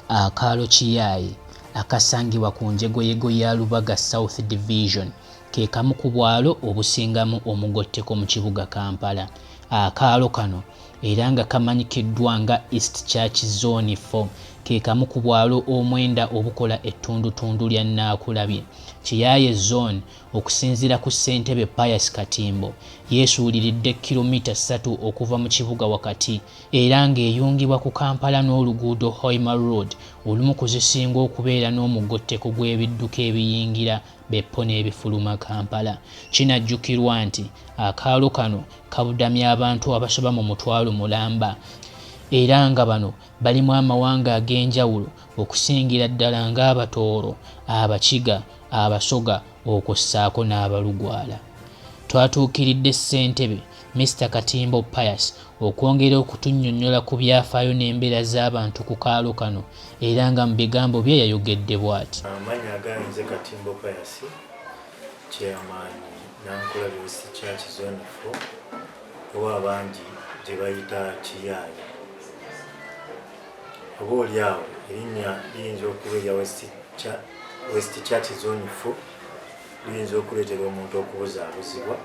akaalo kiyaaye akasangibwa ku njegoyego ya lubaga south division ke kamu ku bwalo obusingamu omugotteko mu kibuga kampala akaalo kano era nga kamanyikiddwa nga east church zone 4 ke kamu ku bwalo omwenda obukola ettundutundu lya naakulabye kiyaaye zone Okusinzira ku ssentebe Pius Katimbo, yeesuuliridde kkiromita ssatu okuva mu kibuga wakati era ng'eyungibwa ku Kampala n'oluguudo Hoima Road olumu ku zisinga okubeera n'omugotteko gw'ebidduka ebiyingira Beppo n'ebifuluma Kampala. Kinajjukirwa nti akaalo kano kabudamya abantu abasoba mu mutwalo mulamba era nga bano Balimu amawanga ag'enjawulo okusingira ddala ng'Abatooro, Abakiga, Abasoga okwo ssaako n'Abalugwala. Twatuukiridde Ssentebe, Mister Katimbo Pius okwongera okutunnyonnyola ku byafaayo n'embeera z'abantu ku kaalo kano era nga mu bigambo bye yayogedde bwati. Amannya gange nze Katimbo Pius, Chairman Nankulabi West Church Zone Four oba abangi gye bayita Kiyaaye. oba oli awo erinnya liyinza okuba erya west church zone fo liyinza okuleetera omuntu okubuzaabuzibwa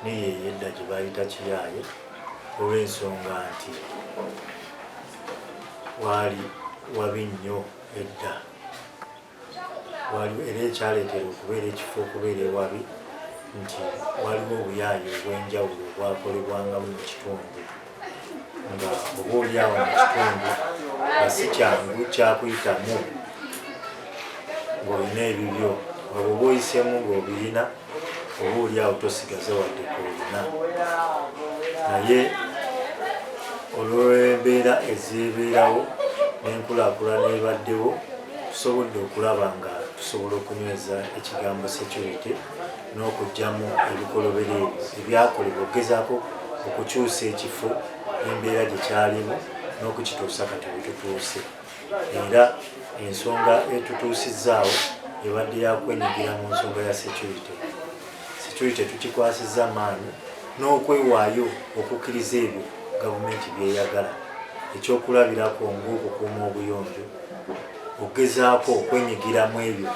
naye eyedda gye bayita kiyaaye olw'ensonga nti waali wabi nnyo edda waliwo era ekyaleetera okubeera ekifo okubeera ewabi nti waliwo obuyaaye obw'enjawulo obwakolebwangamu mu kitundu nga oba olyawo mu kitundu nga si kyangu kyakuyitamu ng'olina ebibyo nga bwoba oyisemu ng'obiyina oba oli awo tosigaza wadde kolina naye olwembeera ezibeerawo nenkulakulana ebaddewo tusobodde okulaba nga tusobola okunyweza ekigambo security n'okugyamu ebikolobero ebyo ebyakolebwa okugezaako okukyusa ekifo embeera gye kyalimu n'okukituusa kati wetutuuse era ensonga etutuusizzaawo ebadde yakwenyigira mu nsonga ya security security tukikwasizza maanyi n'okwewaayo okukkiriza ebyo gavumenti byeyagala ekyokulabirako ngaokukuuma obuyonjo okugezaako okwenyigira mu ebyo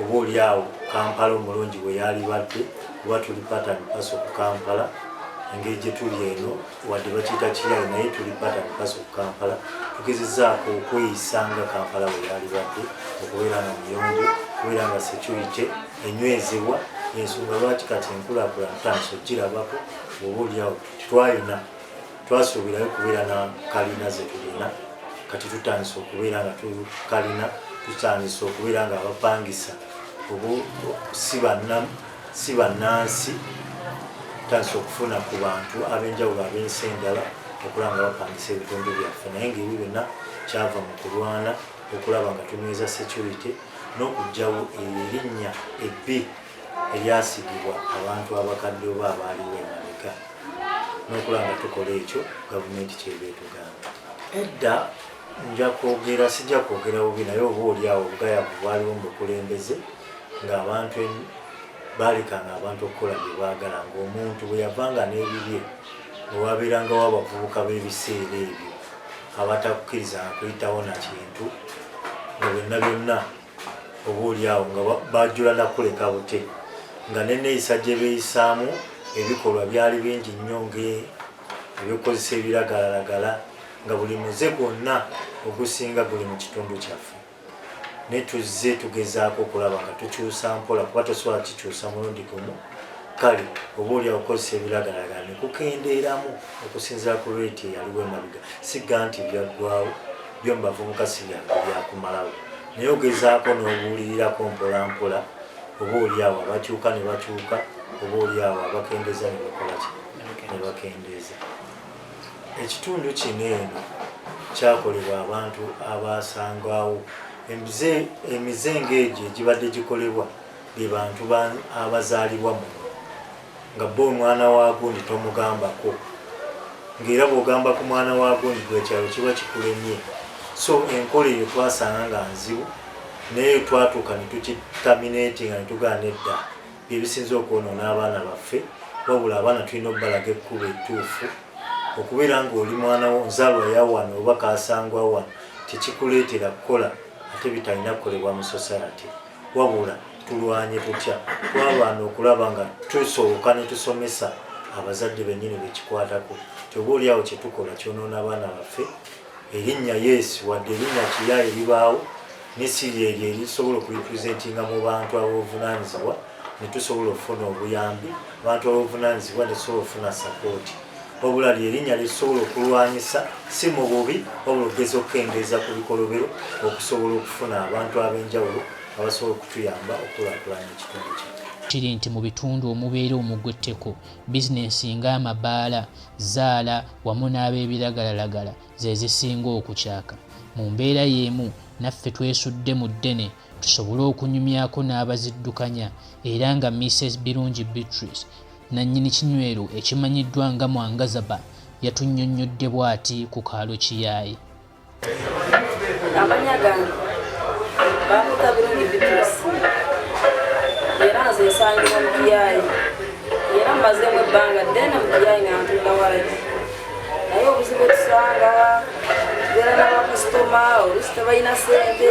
oba oli awo kampala omulungi bwe yaalibadde oba tuli pattern paso ku kampala engeri gye tuli eno wadde bakiyita kiyalo naye tuli pata mukazi ku kampala tugezezaako okweyisa nga kampala bwe yalibadde okubeera nga muyonjo okubeera nga security enywezebwa ensonga lwaki kati enkulakula ntandisa okugirabako oba olyawo twalina twasuubirayo okubeera na kalina zetulina kati tutandisa okubeera nga tukalina tutandisa okubeera nga abapangisa oba si bannamu si bannansi tandise okufuna ku bantu ab'enjawulo ab'ensi endala okulaba nga bapangisa ebitundu byaffe naye nga ebyo byonna kyava mu kulwana okulaba nga tunyweza security n'okugyawo eyo erinnya ebbi eryasigibwa abantu abakadde oba abaaliwo emabega n'okulaba nga tukola ekyo gavumenti kyeba etugamba edda nja kwogera sijja kwogera bubi naye oba oli awo obugayavu bwaliwo mu bukulembeze ng'abantu baalekanga abantu okukola bye baagala ng'omuntu bwe yavanga n'ebibye ne wabeerangawo abavubuka b'ebiseera ebyo abatakukkirizanga kuyitawo na kintu nga byonna byonna oba oli awo nga bajula nakuleka bute nga neneeyisa gye beeyisaamu ebikolwa byali bingi nnyo ngaebyokukozesa ebiragalalagala nga buli muze gwonna ogusinga guli mu kitundu kyaffe ne tuzze tugezaako okulaba nga tukyusa mpola kuba tosobola kikyusa mulundi gumu kale oba oli akokozesa ebiragalalagala ne kukendeeramu okusinzira ku reeti eyaliwo emabiga sigga nti byaggwawo byo mu bavubuka si byangu byakumalawo naye ogezaako n'obuulirirako mpolampola oba oli awo abakyuka ne bakyuka oba oli awo abakendeeza ne bakolaki ne bakendeeza Ekitundu kino eno kyakolebwa abantu abaasangwawo emize ng'egyo egibadde gikolebwa be bantu abazaalibwa muno nga bo omwana wa gundi tomugambako ng'era bw'ogamba ku mwana wa gundi gwekyalo kiba kikulemye so enkola eyo twasanga nga nzibu naye twatuuka ne tukitaminatinga ne tugaana edda byebisinze okwonoona abaana baffe wabula abaana tulina okubalaga ekkuba ettuufu okubeera ngaoli mwana wo nzaalwa yawano oba kasangwa wano tekikuleetera kukola ate bitalina kukolebwa mu society wabula tulwanye tutya twabaana okulaba nga tusooka netusomesa abazadde benyini bekikwatako kyoba oliawo kyetukola kyonoona abaana baffe erinnya yesu wadde erinnya kiya eribaawo nesiri eryo erisobola okurepresentinga mu bantu abobuvunanyizibwa netusobola okufuna obuyambi abantu abobuvunanyizibwa netusobola okufuna sapooti wabula lyerinnya lyetusobola okulwanyisa si mu bubi wabula okugeza okukendeeza ku bikolobero okusobola okufuna abantu ab'enjawulo abasobola okutuyamba okulakulanya ekitundu kya kiri nti mu bitundu omubeera omugwa etteko bizinensi ng'amabaala zzaala wamu n'ab'ebiragalalagala ze zisinga okukyaka. Mu mbeera y'emu, naffe twesudde mu ddene tusobole okunyumyako n'abaziddukanya era nga Mises Birungi Beatrice, nnannyini kinywero ekimanyiddwa nga Mwangazaba yatunnyonnyodde bw'ati ku kaalo Kiyaaye. amanya gange bamuta birungi bitusi era nze nsangibwa mu kiyayi era mmazeemu ebbanga ddene mu kiyayi nga ntunda walagi naye obuzibu etusanga tubeera n'abakasitoma olusi tebalina sente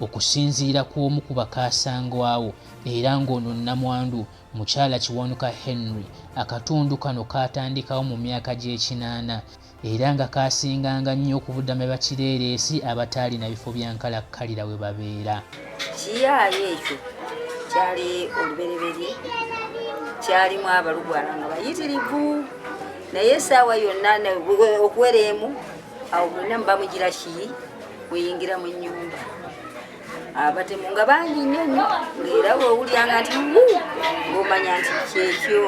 okusinziira ku omu ku bakaasangwawo era ng'ono nnamwandu mukyala kiwanuka henry akatundu kano kaatandikawo mu myaka gy'ekinaana era nga kaasinganga nnyo okubudama bakireereesi abataalina bifo bya nkalakkalira we babeera kiyaayo ekyo kyali olubereberye kyalimu abalugwala nga bayitirivu naye esaawa yonna okuwera emu awo mwena mubamujira ki muyingira mu nyumba abatemu nga bangi nnyo nnyo ngaera wewulyanga nti wu ngaomanya nti kyekyo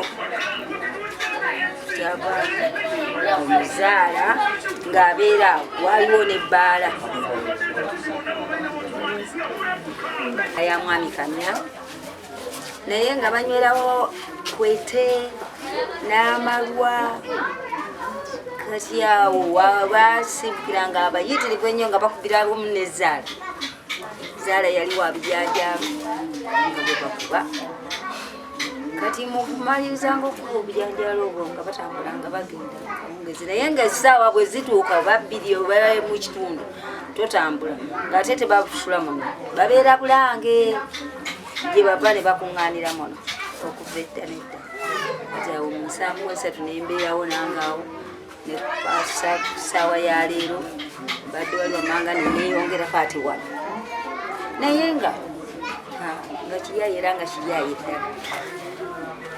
kyava omuzaala ng'abeera waliwo nebbaala aya mwami kamya naye nga banywerawo kwete n'amalwa kati awo baasibukira nga abayitirivu ennyo nga bakubira alumu ne zaala zaala yali wabijanjaamu nga bwe bakuba kati mukumalirizaanga okuba obujanjaalo obwo nga batambula nga bagenda kawungezi naye nga essaawa bwe zituuka babbiri mu kitundu totambula ng'ate tebakusula muno babeera bulange gye bava ne bakuŋŋaanira muno okuva edda nedda awo mu nsanvu esatu ne mbeerawo nangaawo ne kupaasa ku ssaawa ya leero mbadde wali wamanga ne neeyongera paati wano naye nga nga kiryayo era nga kiryayo eddala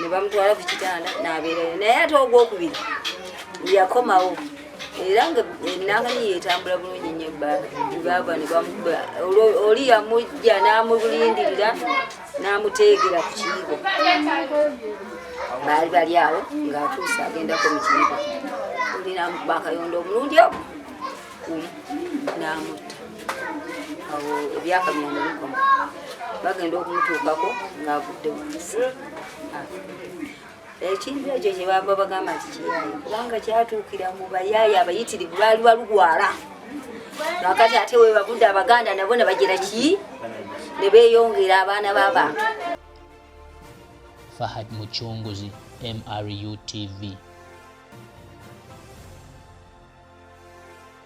ne bamutwala ku kitanda n'abeerayo naye ate ogwokubiri yakomawo era nga enanganyi yetambula bulungi nyo baava ne bamukuba oli yamujja n'amulindirira n'amuteegera ku kiyigo baali bali awo ng'atuuse agendako mu kiyigo oli n'amukuba akayondo omulundi ogwo n'amutta awo ebyaka byanebikoma bagenda okumutuukako ng'avudde wansi ekintu ekyo kyebava bagamba nti kiyaye kubanga kyatuukira mu bayaye abayitirivu baali balugwala kakati ate webavudde abaganda nabo ne bagira ki ne beeyongera abaana b'abantu fahad mucunguzi mru tv